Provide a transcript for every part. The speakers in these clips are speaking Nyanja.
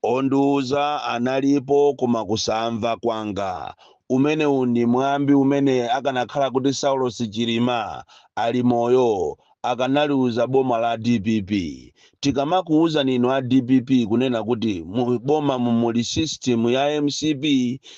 Ondiuza analipo koma kusamva kwanga. Umenewu ndi mwambi umene akanakhala kuti Saulos Chilima ali moyo akanaliuza boma la dpp. Tikamakuuzani inu a dpp kunena kuti mu bomamu muli system ya mcp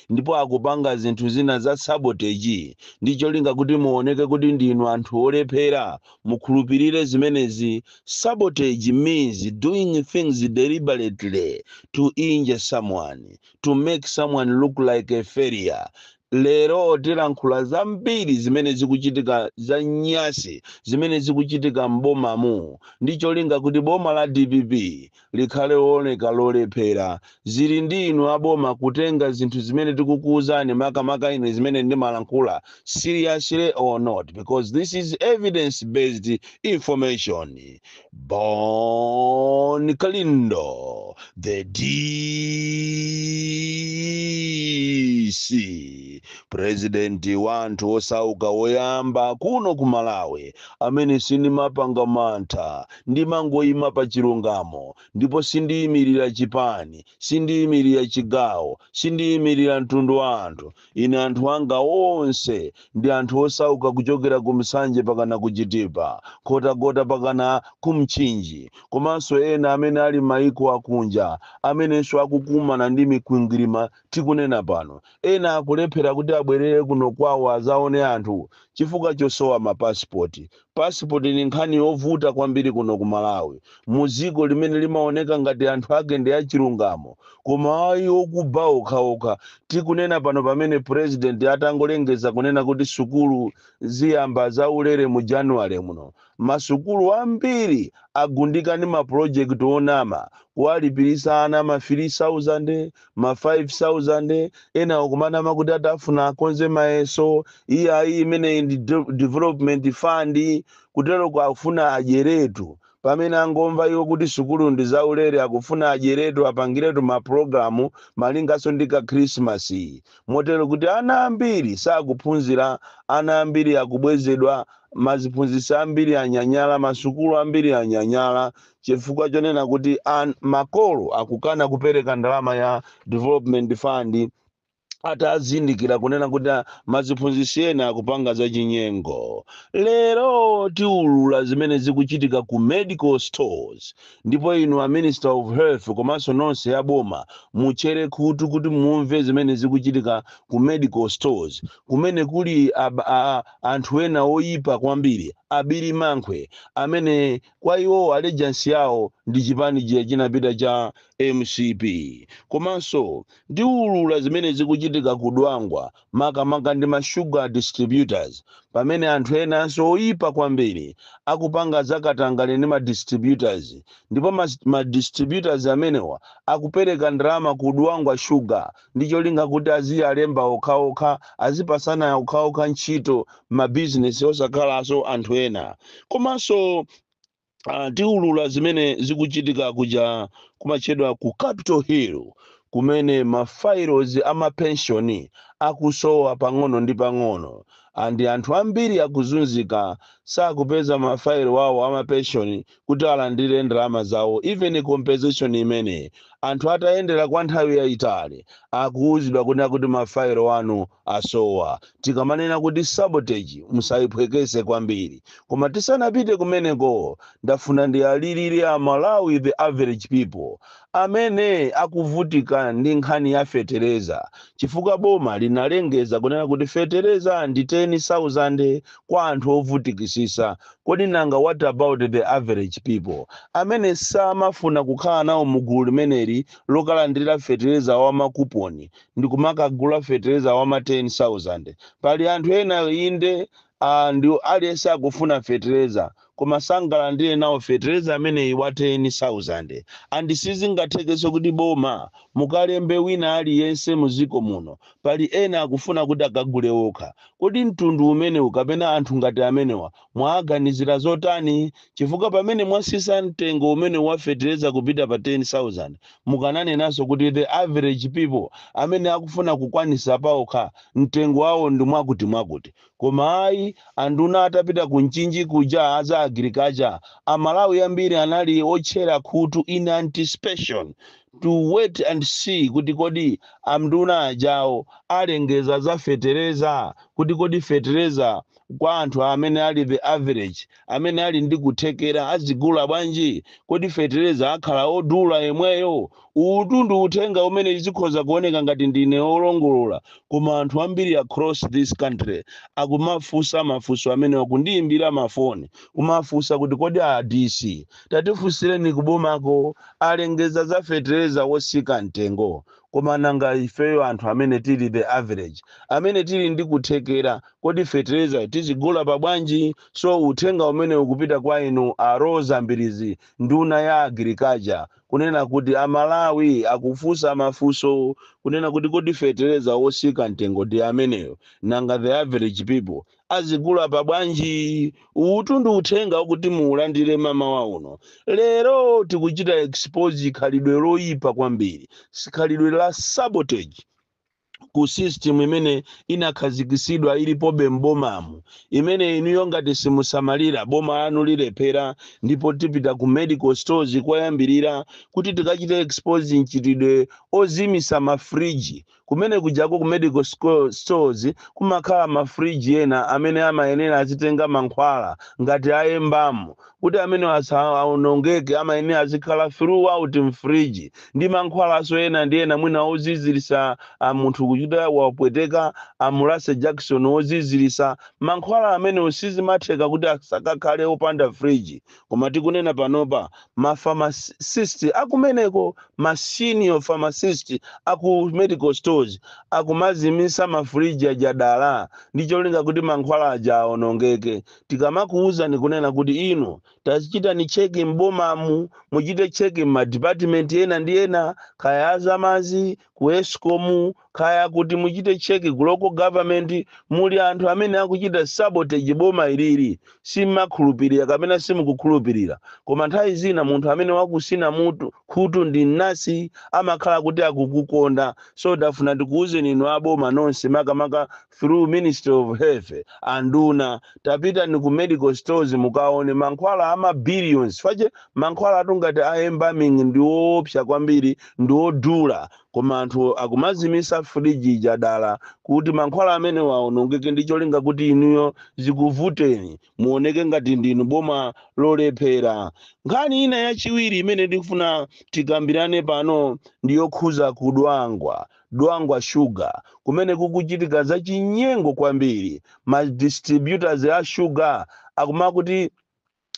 ndipo akupanga zinthu zina za sabotage ndi cholinga kuti muoneke kuti ndinu anthu olephera mukhulupirire zimenezi sabotage means doing things deliberately to injure someone to make someone look like a failure lero tilankhula zambiri zimene zikuchitika za nyasi zimene zikuchitika m'bomamu ndi cholinga kuti boma la dpp likhale looneka lolephera. Zili ndi inu a boma kutenga zinthu zimene tikukuuzani makamaka ine zimene ndimalankhula seriously or not because this is evidence based information. Bon Kalindo the DC president wa anthu osauka woyamba kuno ku Malawi amene sindimapanga mantha Ndimangoima pa chilungamo ndipo sindiimirira chipani, sindiimirira chigawo, sindiimirira mtundu wa anthu. Ine anthu anga onse ndi anthu osauka kuchokera ku Nsanje pakana ku Chitipa, Nkhotakota pakana ku Mchinji komanso ena amene ali m'maiko akunja amenenso akukumana ndi mikwingwirima tikunena pano. Ena akulephera kuti abwerere kuno kwawo azaone anthu chifukwa chosowa ma passport. Passport ni nkhani yovuta kwambiri kuno ku Malawi, mu ziko limene limaoneka ngati anthu ake ndi achilungamo, koma ayi okuba okhaokha. Tikunena pano pamene President atangolengeza kunena kuti sukulu ziyamba za ulere mu January muno, ma sukulu ambiri agundika ndi ma project onama, kuwalipiritsa ana ma 3000, ma 5000 ena akumanama kuti akufuna akonze mayeso iye ayi imeneyi ndi de- development fund kuteroko akufuna adyeretu pamene angomva iwo kuti sukulu ndi zaulere akufuna adyeretu apangiretu mapulogalamu malinganso ndi ka khrisimasi motero kuti ana ambiri sakuphunzira ana ambiri akubwezedwa maziphunzitsi ambiri anyanyala masukulu ambiri anyanyala chifukwa chonena kuti an, makolo akukana kupereka ndalama ya development fund atazindikira kunena kuti a- maziphunzitsi ena akupanga zachinyengo lero tiulula zimene zikuchitika ku medical stores ndipo inu a minister of health komanso nonse ya boma mutchere khutu kuti mumve zimene zikuchitika ku medical stores kumene kuli ab- a- anthu ena oyipa kwambiri abiri namkhwe amene Kwa iwowo allegiance yawo ndi chipani chija chinapita cha mcp. Komanso ndiulula zimene zikuchitika ku Dwangwa makamaka ndi ma sugar distributors pamene anthu enanso oipa kwambiri akupanga za katangale ndi ma distributors ndipo ma ma distributors amenewa akupereka ndalama ku Dwangwa Sugar ndi cholinga kuti aziyalemba okhaokha, azipasana okhaokha ntchito m'mabizinesi osakhalaso anthu ena. Komanso uh, tiulula zimene zikuchitika kuja kumatchedwa ku Capital Hill kumene mafailo a mapenshoni akusowa pang'ono ndi pang'ono andi anthu ambiri akuzunzika sakupeza mafailo awo a mapenshoni kuti alandire ndalama zawo even compensation imene anthu atayendera kwa nthawi yayitali akuwuzidwa kunena kuti mafailo anu asowa tikamanena kuti sabotage musayiphwekese kwambiri koma tisanapite kumeneko ndafuna ndiwalilire a Malawi the average people amene akuvutika ndi nkhani ya fetereza chifukwa boma linalengeza kunena kuti fetereza ndi 10,000 kwa anthu ovutikisisa kodi nanga what about the average people amene samafuna kukhala nawo mu gulu limeneli lokalandira fetereza wa makuponi ndikumakagula fetereza wa ma 10,000 pali anthu ena inde andi aliyense akufuna fetereza koma sangalandire nawo fetereza ameneyi wa 10,000 and sizingathekenso kuti boma mukalembe wina aliyense mudziko muno pali ena akufuna kuti akagule wokha. Kodi mtundu umenewu kapena anthu ngati amenewa mwaaganizira zotani? Chifukwa pamene mwatsitsa mtengo umenewu wa fetereza kupita pa 10,000 Mukananenanso kuti the average people amene akufuna kukwanisa paokha mtengo wawo ndi mwakuti mwakuti. Koma ayi, anduna atapita ku Mchinji kuja a za Agriculture, a Malawi ambiri anali otchera khutu in anticipation to wait and see kuti kodi anduna ajawo alengeza za fetereza kuti kodi fetereza kwa anthu amene ali the average amene ali ndi kuthekera azigula bwanji kodi fetereza akhala odula yemweyo uwutu ndi uthenga umene zikhoza kuoneka ngati ndine olongolola koma anthu ambiri across this country akumafunsa mafunso amenewa kundiyimbira mafoni kumafunsa kuti kodi a dc tatifunsireni kubomako alengeza za fetereza wosika mtengo koma nanga ifeyo anthu amene tili the average amene tili ndi kuthekera kodi fetereza tizigula pa bwanji So uthenga umene ukupita kwa inu a Roza Mbirizi nduna ya Agriculture kunena kuti a Malawi akufunsa mafunso kunena kuti kodi fetereza osika mtengo ndi ameneyo nanga the average people aziugula pa bwanji? Uwutu ndi uthenga okuti muulandire m'mawa uno. Lero tikuchita expose khalidwe loyipa kwambiri, khalidwe la sabotage. ku system imene inakhazikitsidwa ilipobe m'bomamu imene inuyo ngati simusamalira boma lanu lilephera ndipo tipita ku medical stores koyambirira kuti tikachite expose mchitidwe ozimisa mafriji kumene kujako ku medical sco- stores kumakhala mafriji ena amene amayenera azitenga mankhwala ngati a embalming Kuti amenewo asaonongeke amayenera azikhala throughout m'fridge ndi mankhwalanso ena ndi ena mwina oziziritsa a munthu kuchita wapweteka amulase jakisoni woziziritsa. Mankhwala amenewo sizimatheka kuti azikakhala opanda fridge koma tikunena panopa ma pharmacist akumeneko ma senior pharmacist a ku medical stores akumazimitsa ma fridge aja dala ndi cholinga kuti mankhwala aja aonongeke. tikamakuuzani kunena kuti inu tazichitani cheki m'bomamu muchite cheki m'madipatimenti ena ndi ena kaya azamazi ku escom kaya kuti, muchite cheki ku local government muli anthu amene akuchita sabotage boma ilili simmakhulupirira kapena simukukhulupirira koma nthawi zina munthu amene wakusina mutu khutu ndi mnasi amakhala kuti akukukonda so tafuna tikuuzeni inu aboma nonse makamaka through ministry of health anduna tapitani ku medical stores mukaone mankhwala ama billions fache mankhwalatu ngati a embalming ndi woopsa kwambiri ndi wodula koma anthu akumazimisa fridge ija dala kuti mankhwala amenewa aonongeke ndi cholinga kuti inuyo zikuvuteni muoneke ngati ndinu boma lolephera nkhani ina yachiwiri imene ndikufuna tikambirane pano ndi yokhuza kudwangwa Dwangwa Sugar kumene kukuchitika za chinyengo kwambiri, ma distributors a sugar akumakuti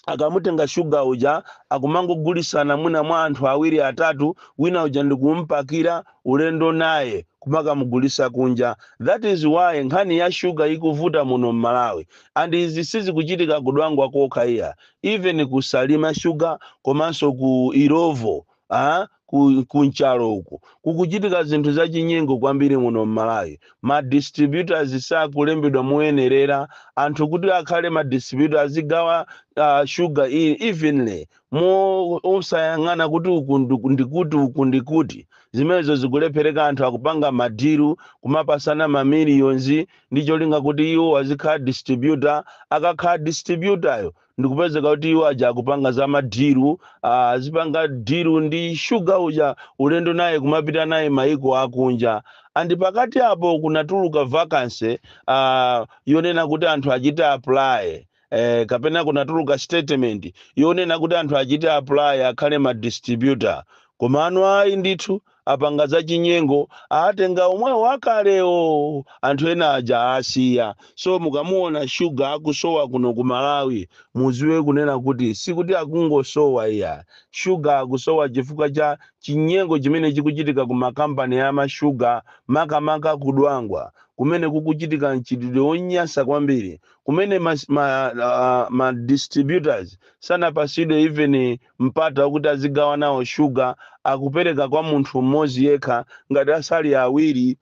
akamutenga sugar uja akumangogulisana mwina mwa anthu awiri atatu, wina uja ndikumpakira ulendo naye kumakamugulisa kunja. That is why nkhani ya sugar ikuvuta muno m'Malawi. And izi sizikuchitika ku Dwangwa kokha iya, even ku Salima Sugar komanso ku Illovo a ku Nchalo uku kukuchitika zinthu zachinyengo kwambiri muno m'malawi ma distributors sakulembedwa moyenerera anthu kuti akhale ma distributor azigawa uh, sugar iyi evenly mo osayang'ana kuti uku ndiku- ndikuti uku ndikuti zimenezo zikulephereka anthu akupanga madiru kumapasana mamiliyonzi ndi cholinga kuti iwo azikhala distributor akakhala distributayo ndikupezeka kuti iwo aja akupanga za madiru ah, azipanga diru ndi shuga uja ulendo naye kumapita naye maiko akunja and pakati apo kunatuluka vacancy ah, yonena kuti anthu achite apply eh, kapena kunatuluka statement yonena kuti anthu achite apply akhale ma distributor komano ayi ndithu apanga zachinyengo aatenga omwewo akalewo anthu ena aja aasiya so mukamuona sugar akusowa kuno ku Malawi muziwe kunena kuti sikuti akungosowa iyayi sugar akusowa chifukwa cha chinyengo chimene chikuchitika ku ma company ama sugar makamaka ku Dwangwa kumene kukuchitika mchitidwe onyansa kwambiri kumene ma, ma, uh, ma distributors sanapatsidwe even mpata wakuti azigawanawo shuga akupereka kwa munthu mmodzi yekha ngati sali awiri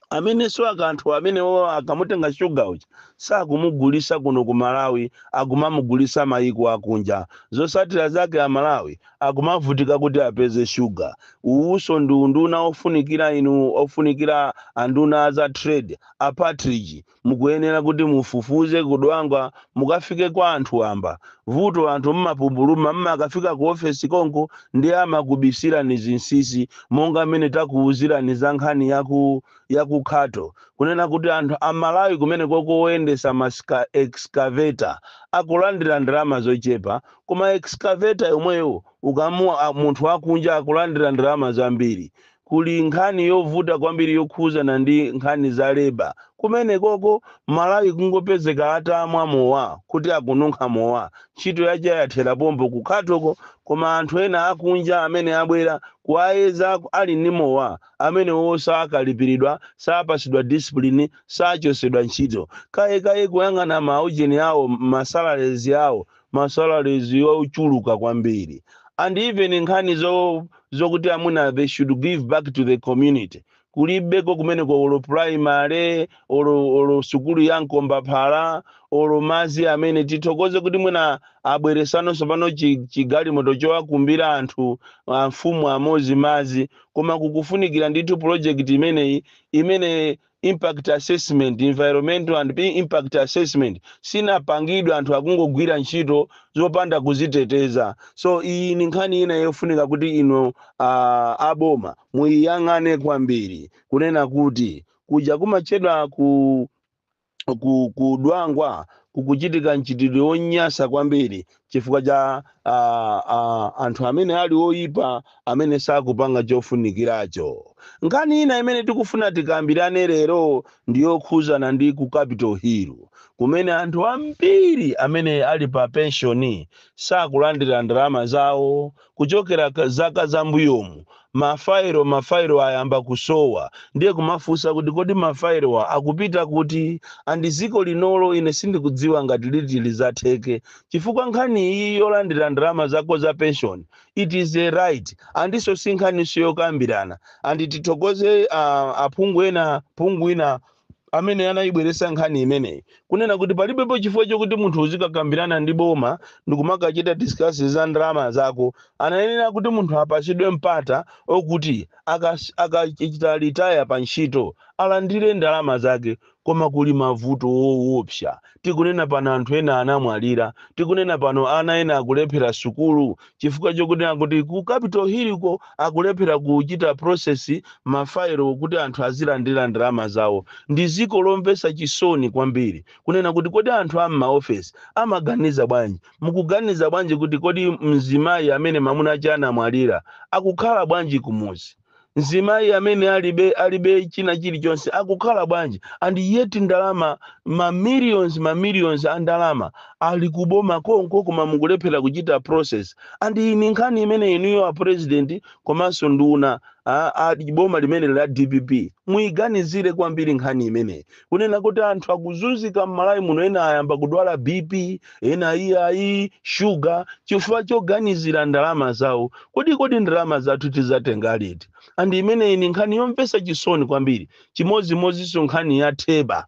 amenenso anthu amenewo akamutenga shuga uja sakumugulisa kuno ku malawi akumamugulisa mayiko akunja zosatira zake amalawi akumavutika kuti apeze shuga uwuso ndi unduna ofunikira inu ofunikira anduna aza trade a Partridge Mukuyenera kuti mufufuze ku Dwangwa mukafike kwa anthu wamba. Vuto anthu mmapupuluma mmakafika ku ofesi konko ndiye amakubisirani zinsisi monga mmene takuuzirani za nkhani ya ku ya ku Khato kunena kuti anthu a Malawi kumenekoko woyendesa ma excavator akulandira ndalama zochepa koma excavator yomweyo ukaona munthu wakunja akulandira ndalama zambiri. Kuli nkhani yovuta kwambiri yokhuzana ndi nkhani za labour kumenekoko, m'Malawi kungopezeka atamwa mowa kuti akununkha mowa, ntchito yake yathera pompo ku khatoko koma anthu ena akunja amene abwera kuwayeza ali ndi mowa amenewowo sakalipiridwa, sapasidwa discipline, sachosedwa ntchito. Kaya kaya kuyang'ana ma ujeni awo, ma salaries awo ma salaries ochuluka kwambiri and even nkhani zo zokuti amuna they should give back to the community kulibeko kumeneko olo primary olo olo sukulu ya mkombaphala olo madzi amene tithokoze kuti mwina abweresano tsopano chi- chigalimoto chowakumbira anthu amfumu amodzi madzi koma kukufunikira ndithu project imeneyi imene Impact assessment, environmental and P impact assessment sinapangidwe anthu akungogwira ntchito zopanda kuziteteza. So iyi ni nkhani ina yofunika kuti inu uh, aboma muyiyang'ane kwambiri kunena kuti kuja kumatchedwa ku ku kudwangwa kukuchitika mchitidwe wonyansa kwambiri chifukwa cha uh, uh, anthu amene ali oyipa amene sakupanga chofunikiracho nkhani ina imene tikufuna tikambirane lero ndi yokhuzana ndi ku capital hill kumene anthu ambiri amene ali pa penshoni sakulandira ndalama zawo kuchokera zaka zambuyomu mafairo mafairo ayamba kusowa ndiye kumafunsa kuti kodi mafairowa akupita kuti andi ziko linolo ine sindikudziwa ngati liti lizatheke chifukwa nkhani iyi yolandira ndalama zako za pension it is a right andiso si nkhaniso yokambirana andi tithokoze uh, aphungu ena phungu ina amene anayibweretsa nkhani imeneyi kunena kuti palibepo chifukwa chokuti munthu uzikakambirana ndi boma ndikumakachita discuss za ndalama zako anayenera kuti munthu apatsidwe mpata okuti akachita retire pa ntchito alandire ndalama zake koma kuli mavuto owopsa Tikunena pano anthu ena anamwalira. Tikunena pano ana ena akulephera sukulu chifukwa chokunena kuti ku Capital Hill ko akulephera kuchita process ma file kuti anthu azilandira ndalama zawo. Ndi dziko lomvetsa chisoni kwambiri kunena kuti kodi anthu a m'ma office amaganiza bwanji? Mukuganiza bwanji kuti kodi mzimayi amene mamuna ake anamwalira akukhala bwanji kumudzi? mzimayi amene alibe alibe china chilichonse akukhala bwanji and yet ndalama ma millions ma millions a ndalama ali kuboma konko koma mukulephera kuchita process and iyi ni nkhani imene inuyo a president komanso nduna a, a boma limeneli la dpp muyiganizire kwambiri nkhani imeneyi kunena kuti anthu akuzunzika m'malawi muno ena ayamba kudwala bp ena iyayi shuga chifukwa choganizira ndalama zawo kodi kodi ndalama zathu tizatenga liti and imeneyi ni nkhani yomvetsa chisoni kwambiri chimodzimodzinso nkhani ya theba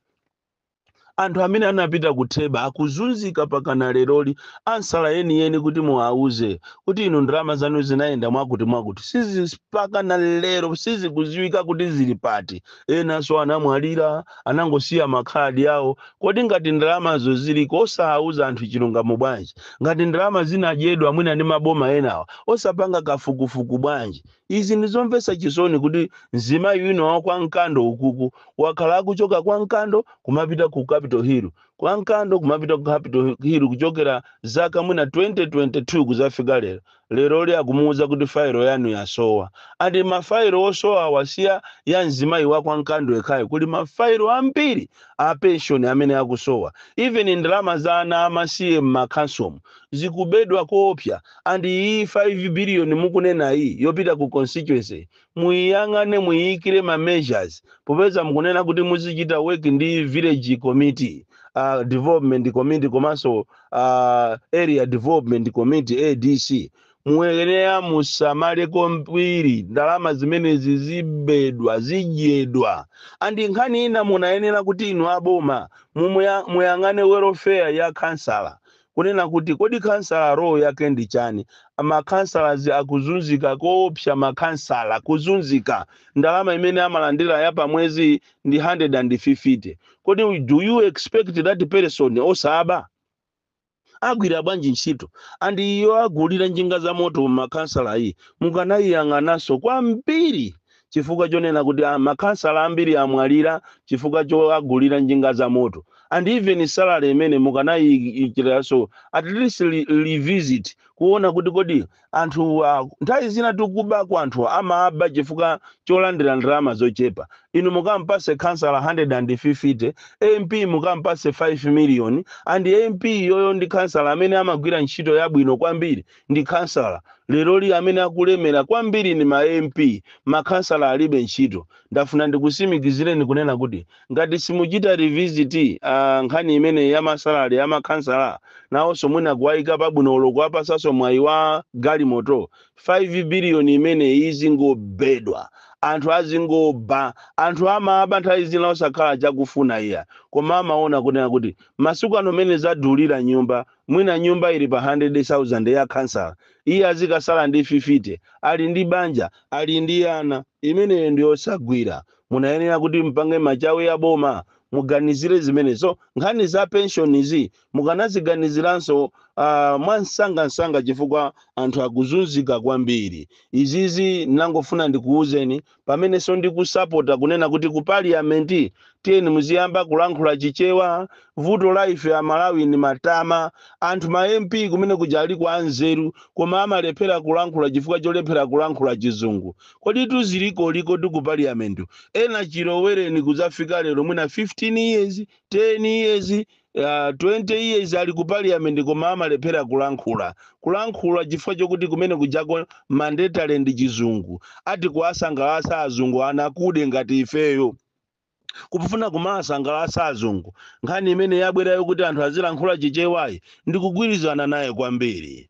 anthu amene anapita ku theba akuzunzika pakana leroli ansala yeniyeni kuti muwauze kuti inu ndalama zanu zinayenda mwakuti mwakuti sizi pakana lero sizikuziwika kuti zili pati enanso anamwalira anangosiya makhadi awo kodi ngati ndalamazo ziliko osawuza anthu chilungamo bwanji ngati ndalama zinadyedwa mwina ndi maboma enawa osapanga kafukufuku bwanji izi ndizomvetsa chisoni kuti mzimayi wina wa kwa mkando ukuku wakhala akuchoka kwa mkando kumapita ku capital hill kwa mkando kumapita ku capital hill kuchokera zaka mwina 2022 kuzafika lero Lero akumuuza kuti file yanu yasowa. And ma file osowawa si ya mzimayi wa kwa Nkando yekhayo kuli ma file ambiri a pension amene akusowa. Even ndalama za ana a masiye mma councilmu zikubedwa koopsa and iyi 5 billion mukunenayi yopita ku constituency Muyiyang'ane muyiyikire ma measures popeza mukunena kuti muzichita work ndi village committee, development committee komanso area development committee, ADC, muyenera musamale kwambiri ndalama zimenezi zibedwa, zidyedwa and nkhani ina munayenera kuti inu a boma mumuya, muyang'ane welfare ya khansala kunena kuti kodi khansala role yake ndi chani? Ma khansalas akuzunzika koopsa ma khansala kuzunzika. Ndalama imene amalandila ya pa mwezi ndi hundred and fifty kodi do you expect that person osaba? Agwira bwanji ntchito? And iyi yowagulira njinga za moto ma khansala iyi mukanaiyang'anaso kwambiri chifukwa chonena kuti ah, makhansala ambiri amwalira chifukwa chowagulira njinga za moto and even salary imene mukanayiyikiraso at least li- revisit kuona kuti kodi anthu ah, nthawi zina tikuwuba kwa anthu amaba chifukwa cholandira ndalama zochepa inu mukampase khansala 150 MP mukampase 5 million and MP iyeyo ndi khansala amene amagwira ntchito yabwino kwambiri ndi khansala leroli amene akulemera kwambiri ndi ma mp makhansala alibe ntchito ndafuna ndikutsimikizireni kunena kuti ngati simuchita revisit uh, nkhani imeneyi ya ma salary ya makhansala nawonso mwina kuwayika pabwino olo kuwapasanso mwayi wa galimoto 5 biliyoni imeneyi izingobedwa anthu azingoba anthu amaba nthawi zina sakhala chakufuna iya koma amaona kunena kuti masiku ano mene zadulira nyumba Mwina nyumba ili pa 100,000 ya khansala, iye azikasala ndi 50, ali ndi banja, ali ndi ana, imeneyo ndi yosagwira. Munayenera kuti mpange machawi a boma, muganizire zimenezo. Nkhani za penshonizi mukanaziganiziranso uh, mwamsangamsanga chifukwa anthu akuzunzika kwambiri. Izizi ndinangofuna ndikuwuzeni pamenenso ndikusapota kunena kuti ku parliament tiyeni muziyamba kulankhula chichewa vuto la ife amalawi ndi matama anthu ma mp kumenekuja aliko anzeru koma amalephera kulankhula chifukwa cholephera kulankhula chizungu kodi tuzilikoliko tiku parliament ena chilowereni kudzafika lero mwina 15 years 10 years ena 20 years ali ku parliament koma amalephera kulankhula kulankhula chifukwa chokuti kumenekujako mandatory ndi chizungu ati kuwasangalatsa azungu anthu akuda ngati ifeyo kufuna kumawasangalatsa azungu nkhani imene yabwerayo kuti anthu azilankhula chichewayi ndikugwirizana nayo kwambiri